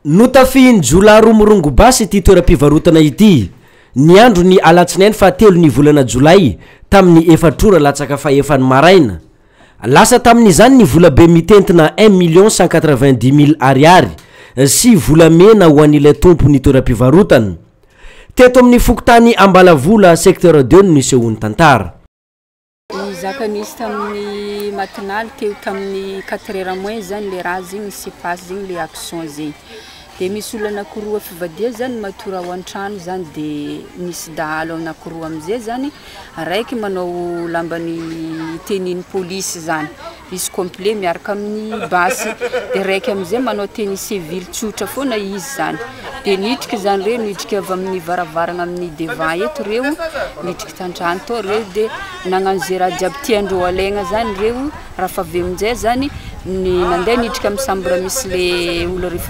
Notafihin'ny jiolahy roa mirongo basy ity toeram-pivarotana ity, ny andron'ny alatsinainy fahatelon'ny volana jolay, tamin'ny efatra ora latsaka fahefany maraina. Lasa tamin'izany ny volabe mitentina un million cent quatre-vingt-dix mille Ariary sy volamena ho an'ilay tompon'ny toeram-pivarotana. Teto amin'ny fokontany Ambalavola, secteur deux no nisehoan'ny tantara. Nizaka nisy tamin'ny matinaly teo tamin'ny quatre heures moins zany le raha zegny ny sipaso zegny le action zegny de misy olona anakiroa fivadia zany matory ao an-trano zany de misy dahalo anakiroa amizay zany araiky manao lamban'ny tenue-n'ny polisy zany Izy complet miaraka amin'ny basy dia raiky amin'izay manao tenue civile tsotra foana izy izany dia nidrika izany ireo nidrika avy amin'ny varavarana amin'ny devant eto ireo nidrika tantrano tao ireo dia nagnano izay raha jiaby tiandreo alaigna izany ireo raha fa avy amin'izay izany ny nandeha nidrika amin'ny sambra misy le olona rehefa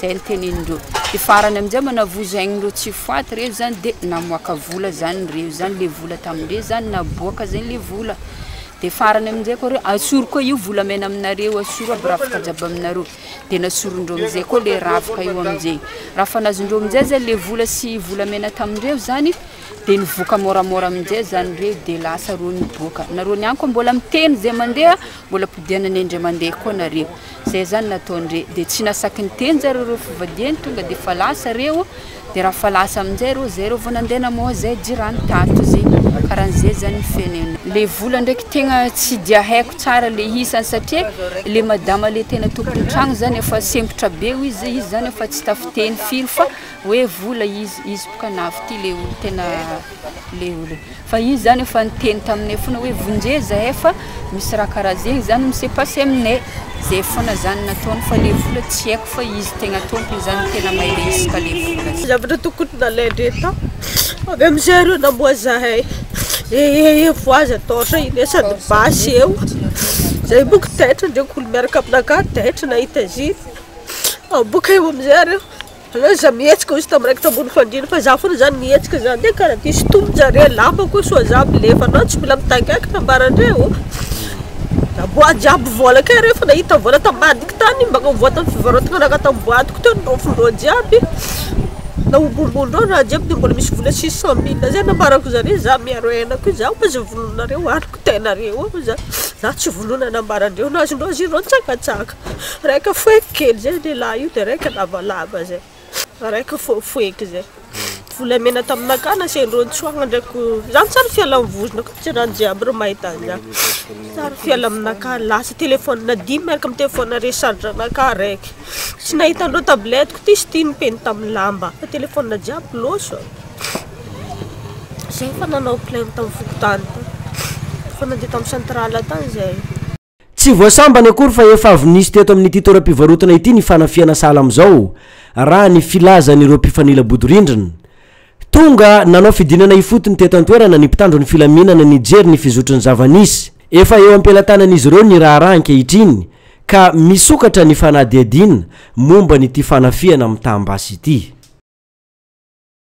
Zay ny tenenin'ireo. De farany amizay manavozo ain'ireo tsy faty reo zany de namoaka vola zany reo zany le vola tamindreo zany naboaka zay le vola de farany amizay koa reo asoro koa io volamena aminareo asoro aby rafitra jiaby aminareo de nasorondreo amizay koa le rafitra io amizay raha fa nazondreo amizay zany le vola sy volamena tamindreo zany de nivoaka môramôra amizay zany reo de lasa reo niboaka nareo niany koa mbola miteny zay mandeha mbola podianan'ny indray mandeha koa nareo Zay zany nataony re de tsy nasaky niteny zay reo reo fivadiany tonga de fa lasa reo de ra fa lasa amizay reo zay reo vo nande namoha zay jirany tato zay karan zay zany ny fiainana. Le vola ndraiky tegna tsy dia haiko tsara le isany satria le madama le tena tompony tragno zany efa sempotra be hoy izy izy zany efa tsy tafiteny firy fa Hoe vola izy, izy boka navitia le olo tena le olo fa izy zany efa niteny taminay fona hoe vonje zahay fa misy raha karaha zegny zany mise passe aminay zay fona zany nataony fa le vola tsy aiko fa izy tegna tompony zany tegna mahay miresaka le vola zany. Zavatra tokony nalaindreo tao avy amizay reo namoha zahay ee voaza taotra iny ee sady basy eo zay boka taitra ndreo ko olo miaraka aminakahy taitra nahita ziny boka eo amizay reo. Aleo izaho mihetsika hoy izy tamin'ny raikitra ambony fandriana fa izaho foana izany mihetsika izany dia kara ity sintomin-jareo lamba koa soa izaho milefa anao tsy mila mitaingaika ambaran-dreo da boaty jiaby vola kay reo efa nahita vola tambadika tany mba nivoha tamin'ny fivarotana ragaka tamin'ny boatiko teo noraofin-dreo jiaby nahobombon-dreo raha jiaby dia mbola misy vola six cent mille izay nambarako zareo izaho miaro aina koa izaho fa izay vonononareo aliko tenareo ao izaho izaho tsy vonona na ambaran-dreo na azon-dreo azia ireo nitsakatsaka Raika foheko kely zay lehilahy io dia raika lavalava zay. Raika foheko zay. Volamena taminaka na sendro nitsoahana ndraiko. Zany tsara fialan'ny vozona ko tsy raha jiaby ry mahita an'izany. Tsara fiala aminaka lasa telefaonina dimy miaraka amin'ny telefaonina recharge-naka raika. Tsy nahita an'ireo tablette ko ty sy ty nipeny tamin'ny lamba. Fa telefaonina jiaby loso. Zay efa nanao plein tamin'ny fokontany tany. Efa nandeha tamin'ny centrale tany zahay. Tsy voasambany akory fa efa avy nisy teto amin'ity toeram-pivarotana ity ny fanafihana sahala amin'izao, raha ny filazan'ireo mpifanila bodirindrina. Tonga nanao fidinana ifotony teto an-toerana ny mpitandro ny filaminana nijery ny fizotry ny zava-nisy. Efa eo am-pelatanan'izy ireo ny raharaha ankehitriny ka misokatra ny fanadihadiana momba an'ity fanafihana mitam-basy ity.